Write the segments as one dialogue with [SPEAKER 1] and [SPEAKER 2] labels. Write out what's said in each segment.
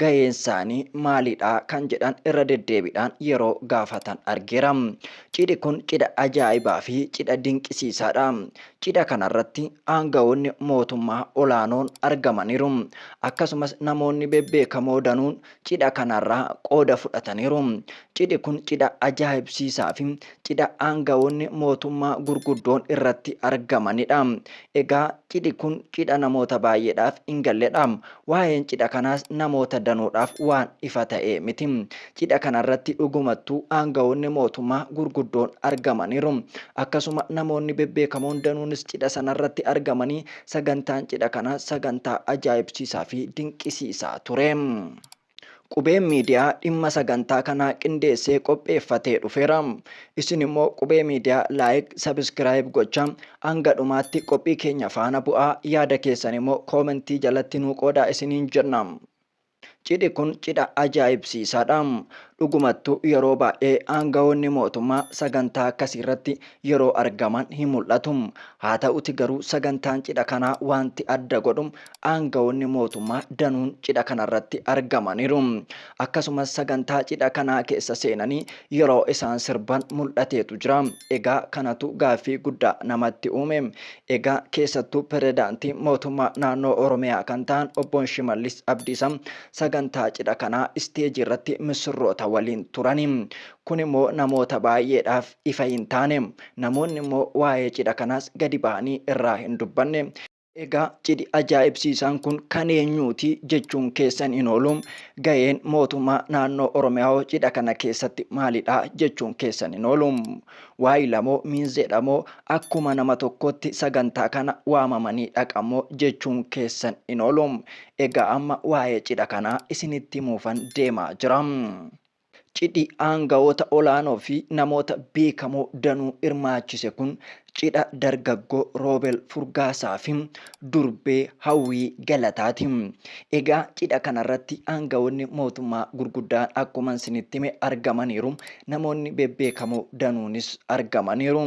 [SPEAKER 1] gaheensaanii maalidha kan jedhan irra deddeebiidhaan yeroo gaafatan argeera. Cidhi kun cidha ajaa'ibaa fi cidha dinqisiisaadha. Cidha kanarratti aanga'oonni mootummaa olaanoon argamaniiru. Akkasumas namoonni bebbeekamoo danuun cidha kanarraa qooda fudhataniiru. Cidhi kun cidha ajaa'ibsiisaa fi cidha aanga'oonni mootummaa gurguddoon irratti argamanidha. Egaa cidhi kun cidha namoota baay'eedhaaf hin galledha. Waa'een cidha kanaas namoota danuudhaaf waan ifa ta'e miti. Cidha kanarratti dhugumattuu aanga'oonni mootummaa gurguddoon argamaniiru. Akkasuma namoonni bebbeekamoon danuunis cidha sanarratti argamanii sagantaan cidha kanaa sagantaa ajaa'ibsiisaa fi dinqisiisaa ture. Qubeen miidiyaa dhimma sagantaa kanaa qindeessee qopheeffatee dhufeera. Isin immoo Qubee Miidiyaa Like, Subscribe gochaa hanga dhumaatti qophii keenya faana bu'aa, yaada keessan immoo koomentii jalatti nuu qoodaa isiniin jenna. Cidhi kun cidha ajaa'ibsiisaadha. Dhugumattuu yeroo baay'ee aangawoonni mootummaa sagantaa akkasii irratti yeroo argaman hin mul'atu. Haa ta'uti garuu sagantaan cidha kanaa waanti adda godhu Aanga'oonni mootummaa danuun cidha kanarratti argamaniiru. Akkasumas sagantaa cidha kanaa keessa seenanii yeroo isaan sirban mul'ateetu jira. Egaa kanatu gaaffii guddaa namatti uume. Egaa keessattuu Pirezidaantii mootummaa naannoo Oromiyaa kan ta'an Obbo Shimallis Abdiisa sagantaa cidha kanaa isteejii irratti missirroota waliin turani. Kun immoo namoota baay'eedhaaf ifa hin taane. Namoonni immoo waa'ee cidha kanaas gadi bahanii irraa hin dubbanne. Egaa cidhi ajaa'ibsiisaan kun kan eenyuuti jechuun keessan hin oolu. Ga'een mootummaa naannoo Oromiyaawoo cidha kana keessatti maalidha jechuun keessan hin oolu. Waayilamoo miinzeedhamoo akkuma nama tokkootti sagantaa kana waamamanii dhaqamoo jechuun keessan hin oolu. Egaa amma waa'ee cidha kanaa isinitti himuufan deemaa jira. Cidhi aanga'oota olaanoo fi namoota beekamoo danuu hirmaachise kun cidha dargaggoo Roobel Furgaasaa fi durbee Hawwii Galataati. Egaa cidha kanarratti aanga'oonni mootummaa gurguddaan akkuman isinitti hime argamaniiru. Namoonni bebbeekamoo danuunis argamaniiru.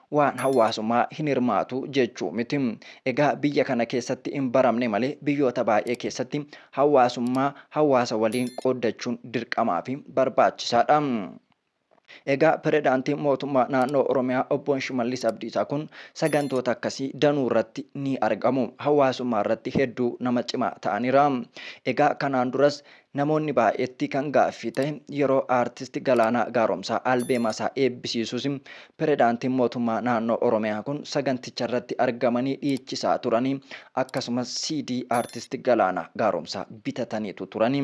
[SPEAKER 1] Waan hawaasumaa hin hirmaatu jechuu miti. Egaa biyya kana keessatti hin baramne malee biyyoota baay'ee keessatti hawaasummaa hawaasa waliin qooddachuun dirqamaa fi barbaachisaa dha. Egaa Piredaantiin Mootummaa Naannoo Oromiyaa Obboon Shimallis Abdiisaa kun sagantoota akkasii danuu irratti ni argamu. Hawaasummaa irratti hedduu nama cimaa ta'anira. Egaa kanaan duras Namoonni baay'eetti kan gaaffii ta'e yeroo Aartisti Galaanaa Gaaromsaa albeemasaa eebbisiisus Piredaantiin Mootummaa Naannoo Oromiyaa kun saganticharratti argamanii dhiichisaa turanii akkasumas CD Aartisti Galaanaa Gaaromsaa bitataniitu turani.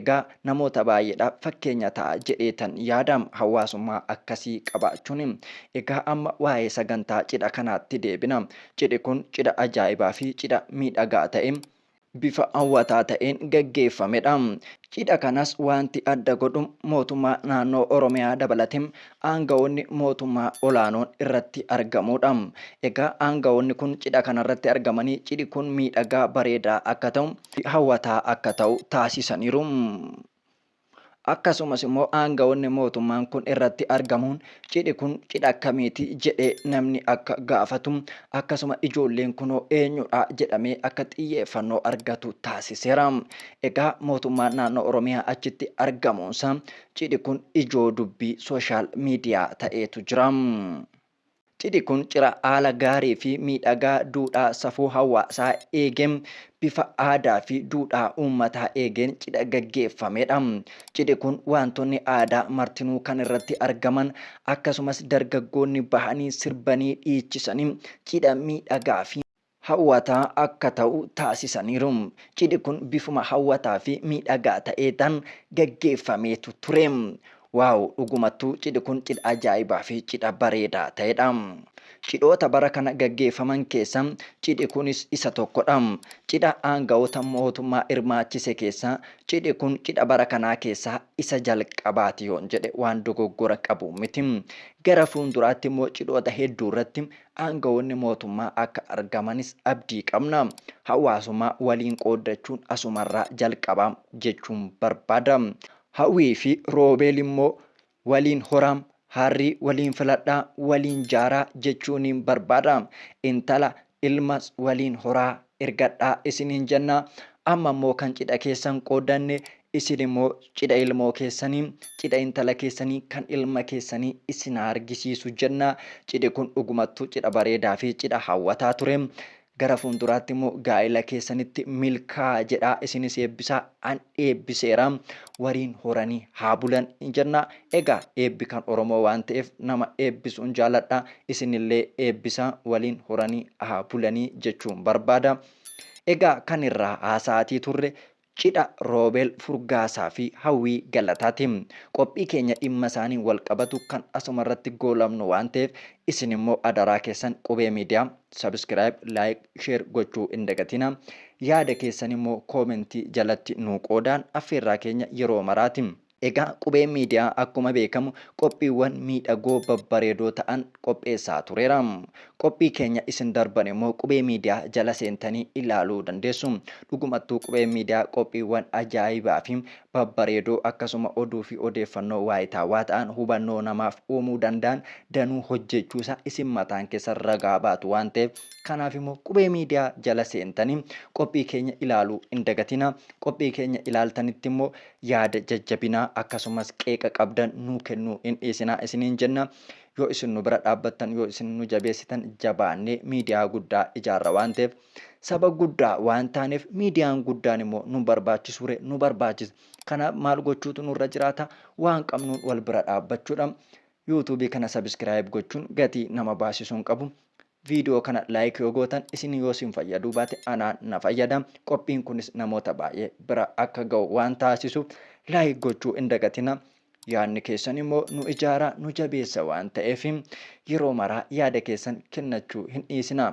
[SPEAKER 1] Egaa namoota baay'eedhaaf fakkeenya ta'a jedheetan yaada hawaasummaa akkasii qabaachuun. Egaa amma waa'ee sagantaa cidha kanaatti deebina. Cidhi kun cidha ajaa'ibaafi cidha miidhagaa ta'e. bifa hawwataa ta'een gaggeeffamedha. Cidha kanas waanti adda godhu mootummaa naannoo Oromiyaa dabalatee aanga'oonni mootummaa olaanoon irratti argamuudha. Egaa aanga'oonni kun cidha kanarratti argamanii cidhi kun miidhagaa, bareedaa akka ta'u, hawwataa akka ta'u taasisaniiru. Akkasumas immoo aanga'oonni mootummaan kun irratti argamuun cidhi kun cidha akkamiiti jedhee namni akka gaafatu akkasuma ijoolleen kunoo eenyudha jedhamee akka xiyyeeffannoo argatu taasiseera. Egaa mootummaan naannoo Oromiyaa achitti argamuunsa cidhi kun ijoo dubbii sooshaal miidiyaa ta'eetu jira. Cidhi kun cira haala gaariifi miidhagaa duudhaa safuu hawaasaa eege, bifa aadaafi duudhaa uummataa eegeen cidha gaggeeffamedha. Cidhi kun waantonni aadaa martinuu kan irratti argaman, akkasumas dargaggoonni bahanii sirbanii dhiichisanii cidha miidhagaafi. hawwataa akka ta'u taasisaniiru. Cidhi kun bifuma hawwataa fi miidhagaa ta'eetan gaggeeffameetu ture. Wow dhugumattuu cidhi kun cidha ajaa'ibaa fi cidha bareedaa ta'edha. Cidhoota bara kana gaggeeffaman keessa cidhi kunis isa tokkodha. Cidha aanga'oota mootummaa hirmaachise keessaa cidhi kun cidha bara kanaa keessaa isa jalqabaati yoon jedhe waan dogoggora qabu miti. Gara fuulduraatti immoo cidhoota hedduurratti Aangawoonni mootummaa akka argamanis abdii qabna. Hawaasummaa waliin qooddachuun asumarraa jalqaba jechuun barbaada. Hawwii fi Roobeel immoo waliin horaa, harrii waliin filadhaa, waliin jaaraa jechuuniin barbaada. Intala, ilmas waliin horaa, ergadhaa isiniin jenna. Amma immoo kan cidha keessan qooddanne isin immoo cidha ilmoo keessanii, cidha intala keessanii, kan ilma keessanii isin haa argisiisu jenna. Cidhi kun dhugumattuu cidha bareedaa fi cidha hawwataa ture. Gara fuulduraatti immoo gaa'ila keessanitti milkaa'a jedhaa isinis eebbisaa an eebbiseera. Wariin horanii haa bulan in jenna. Egaa eebbi kan Oromoo waan ta'eef nama eebbisuun jaaladha. Isinillee eebbisaa waliin horanii haa bulanii jechuun barbaada. Egaa kan irraa haasa'aatii turre cidha Roobeel Furgaasaa fi Hawwii Galataati. Qophii keenya dhimma isaaniin walqabatu kan asumarratti goolabnu waan ta'eef isinimmoo adaraa keessan Qubee Miidiyaa. Subscribe, like, share gochuu hin dagatina. Yaada keessan immoo koomentii jalatti nuu qoodaan affeerraa keenya yeroo maraati. Egaa Qubee Media akkuma beekamu qophiiwwan miidhagoo babbareedoo ta'an qopheessaa tureera. Qophii keenya isin darban immoo Qubee Media jala seentanii ilaaluu dandeessu. Dhugumattuu Qubeen Media qophiiwwan ajaa'ibaa fi babbareedoo akkasuma oduu fi odeeffannoo waayitaawaa ta'an hubannoo namaaf uumuu danda'an danuu hojjeechuusaa isin mataan keessan ragaa baatu waan ta'eef kanaaf immoo Qubee Miidiyaa jala seentanii qophii keenya ilaaluu hin dagatinaa. Qophii keenya ilaaltanitti immoo yaada jajjabinaa akkasumas qeeqa qabdan nuu kennuu hin dhiisinaa isiniin jenna. Yoo isin nu bira dhaabbattan, yoo isin nu jabeessitan jabaannee miidiyaa guddaa ijaarra waan ta'eef. Saba guddaa waan taaneef miidiyaan guddaan immoo nun barbaachisuure nu barbaachisa. Kanaaf maal gochuutu nurra jiraata? Waan qabnuun wal bira dhaabbachuudha. YouTube kana subscribe gochuun gatii nama baasisu hin qabu. Viidiyoo kana like yoo gootan isin yoo isin fayyaduu baate anaan na fayyada. Qophiin kunis namoota baay'ee bira akka ga'u waan taasisuuf like gochuu hin dagatina. Yaadni keessan immoo nu ijaara, nu jabeessa waan ta'eef yeroo maraa yaada keessan kennachuu hin dhiisinaa.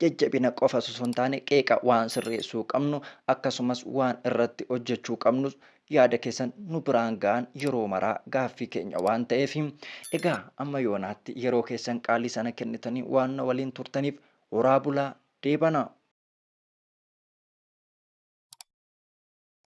[SPEAKER 1] Jajjabina qofas osoo hin taane qeeqa, waan sirreessuu qabnu, akkasumas waan irratti hojjechuu qabnus yaada keessan nu biraan ga'aan yeroo maraa gaaffii keenya waan ta'eef. Egaa amma yoonaatti yeroo keessan qaalii sana kennitanii waan na waliin turtaniif horaa bulaa, deebanaa!